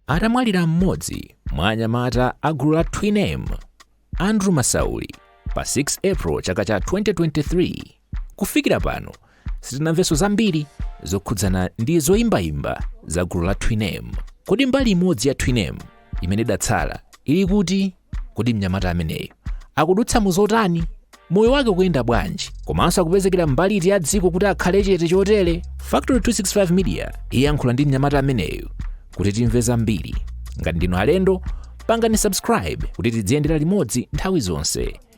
atamwalira mmodzi mwa anyamata a gulu la twinem andrew masauli pa 6 april chaka cha 2023 Kufikira pano sitinamvenso zambiri zokhudzana ndi zoyimbayimba za gulu la Twinem. Kodi mbali imodzi ya Twinem imene idatsala ili kuti? Kodi mnyamata ameneyu akudutsa mu zotani? Moyo wake ukuyenda bwanji? Komanso akupezekera mbali iti ya dziko kuti akhale chete chotere? Factory 265 Media iyankhula ndi mnyamata ameneyu kuti timve zambiri. Ngati ndinu alendo, pangani subscribe kuti tidziyendera limodzi nthawi zonse.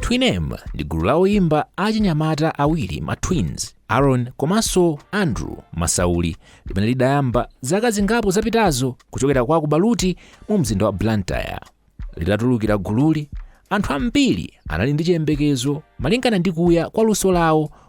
twinem ndi gulu la oyimba achinyamata awiri ma twins aaron komanso andrew masauli limene lidayamba zaka zingapo zapitazo kuchokera kwa Baluti mu mzinda wa blantyre litatulukira gululi anthu ambiri anali ndi chiyembekezo malingana ndi kuya kwa luso lawo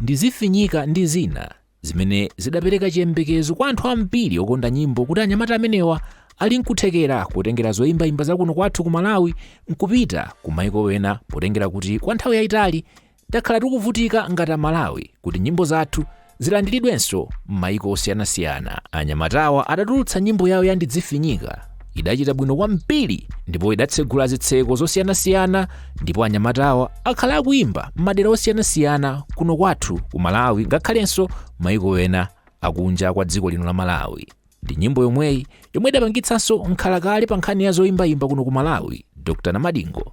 ndidzifinyika ndi zina zimene zidapereka chiyembekezo kwa anthu ambiri okonda nyimbo kuti anyamata amenewa ali nkuthekera kotengera zoyimbayimba zakuno kwathu ku malawi nkupita ku maiko ena potengera kuti kwa nthawi yayitali Takhala tikuvutika ngati Amalawi kuti nyimbo zathu zilandiridwenso m'mayiko osiyanasiyana. Anyamatawa atatulutsa nyimbo yawo ya Ndidzifinyika idachita bwino kwambiri ndipo idatsegula zitseko zosiyanasiyana ndipo anyamatawa akhala akuimba m'madera osiyanasiyana kuno kwathu ku Malawi ngakhalenso mayiko ena akunja kwa dziko lino la Malawi. Ndi nyimbo yomweyi yomwe idapangitsanso mkhalakale pa nkhani ya zoimbaimba kuno ku Malawi, Dr. Namadingo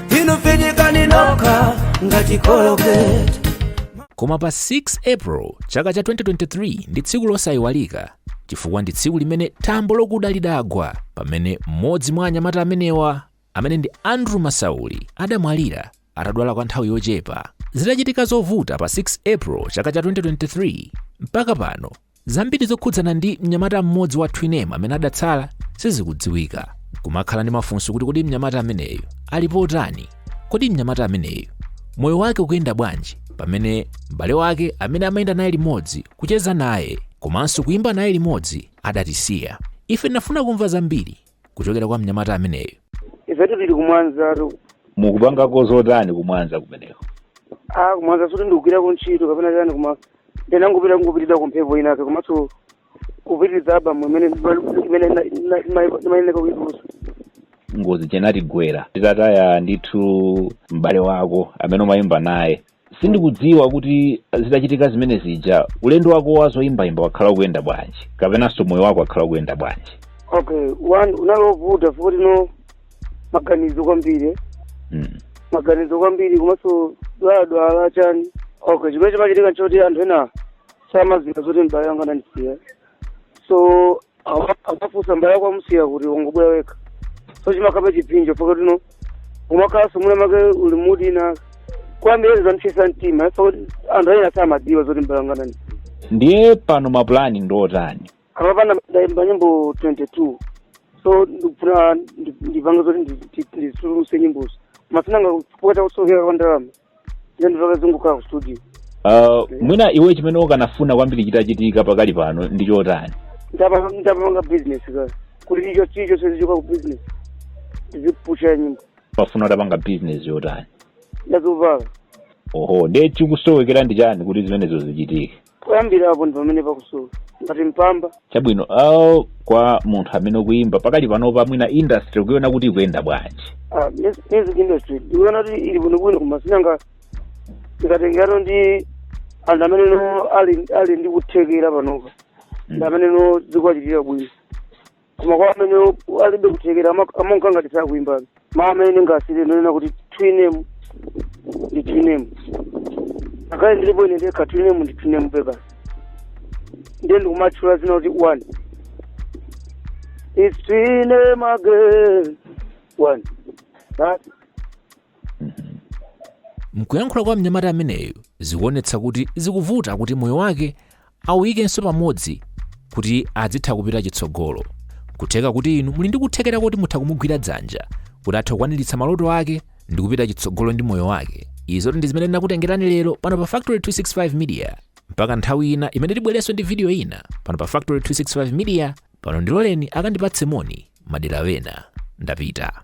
inu finyikani nokha ngati kologeti koma pa 6 april chaka cha 2023 ndi tsiku losayiwalika chifukwa ndi tsiku limene thambo lokuda lidagwa pamene mmodzi mwa anyamata amenewa amene ndi andrew masauli adamwalira atadwala kwa nthawi yochepa zitachitika zovuta pa 6 april chaka cha 2023 mpaka pano Zambiri zokhudzana ndi mnyamata mmodzi wa Twinem amene adatsala sizikudziwika. Kumakhala ndi mafunso kuti kodi mnyamata ameneyu ali potani? Kodi mnyamata ameneyu moyo wake ukuyenda bwanji pamene m'bale wake amene amayenda naye limodzi, kucheza naye komanso kuyimba naye limodzi adatisiya? Ife tinafuna kumva zambiri kuchokera kwa mnyamata ameneyu ifetu tili ku Mwanza tu mukupangako zotani ku Mwanza kumeneko ah ku Mwanza sikuti ndikugwirako ntchito kapena chani koma ndinangopita kungopitidwa kumphepo inake komanso kupitiriza album imene imene na- na- ima- imayeneka kuitulusa ngozi isanatigwere titataya ndithu m'bale wako amene umayimba naye Sindikudziwa kuti zitachitika zimene zija ulendo wako wa zoyimbayimba wakhala ukuyenda bwanji kapenanso moyo wako wakhala ukuyenda bwanji okay one unali wovuta poti no maganizo kwambiri mm. maganizo kwambiri komanso dwaladwala chani okay chimene chimachitika nchoti anthu ena samadziwa zoti mbale wanga anandisiya so Awa- amafunsa mbale wako wamusiya kuti ukungobwera wekha so chimakhalabe chipsinjo mpaka tino umakhalanso muna make uli mood ina kwambiri zamchesa mtima ifa kuti anthu ena samadziwa zoti mbale wanga anandi ndiye pano mapulani ndi otani ah mapulani ndaimba nyimbo 22 so ndikufuna ndi- ndipange zoti ndi- ndi- ndituluse nyimbozo koma sinanga kuvuta kusowekera kwa ndalama ine ndizobe zikungokhala ku studio uh, mwina iwe chimene ukanafuna kwambiri chitachitika pakali pano ndi chotani ndita nditapanga business ka kuti chilichonse chizichoka ku business ndizipusha nyimbo umafuna utapanga business yotani ndi ya zovala oho nde chikusowekera ndi chani kuti zimenezo zichitike poyambirapo ndi pamene pakusowa ngati mpamba chabwino uh, kwa munthu amene ukuyimba pakali panopa mwina industry ukuiona kuti ikuyenda bwanji Ah, mus- music industry ndikuona kuti ili bwinobwino koma sinanga ikutengerano ndi anthu amene no ali ali ndi kuthekera panopa ndi amene no zikuwachitira bwino koma kwa amene u- alibe kuthekera ama- amaoneka ngati sakuimbabe mawu amene ndingasiye ndi onena kuti Twin M ndi Twin M ngakhale ndilipo ine ndekha Twin M ndi Twin M basi ndiye ndikumatchula dzina kuti one It's Twin M again one That- Mkuyankhula kwa mnyamata ameneyu zikuonetsa kuti zikuvuta kuti moyo wake auyikenso pamodzi kuti adzitha kupita chitsogolo. Kutheka kuti inu muli ndi kuthekera kuti mutha kumugwira dzanja kuti athe kukwaniritsa maloto ake ndi kupita chitsogolo ndi moyo wake. Izo ndi zimene ndinakutengerani lero pano pa Factory 265 Media. Mpaka nthawi ina imene tibwerenso ndi video ina pano pa Factory 265 Media, pano ndiloleni akandipatse moni madera ena. Ndapita.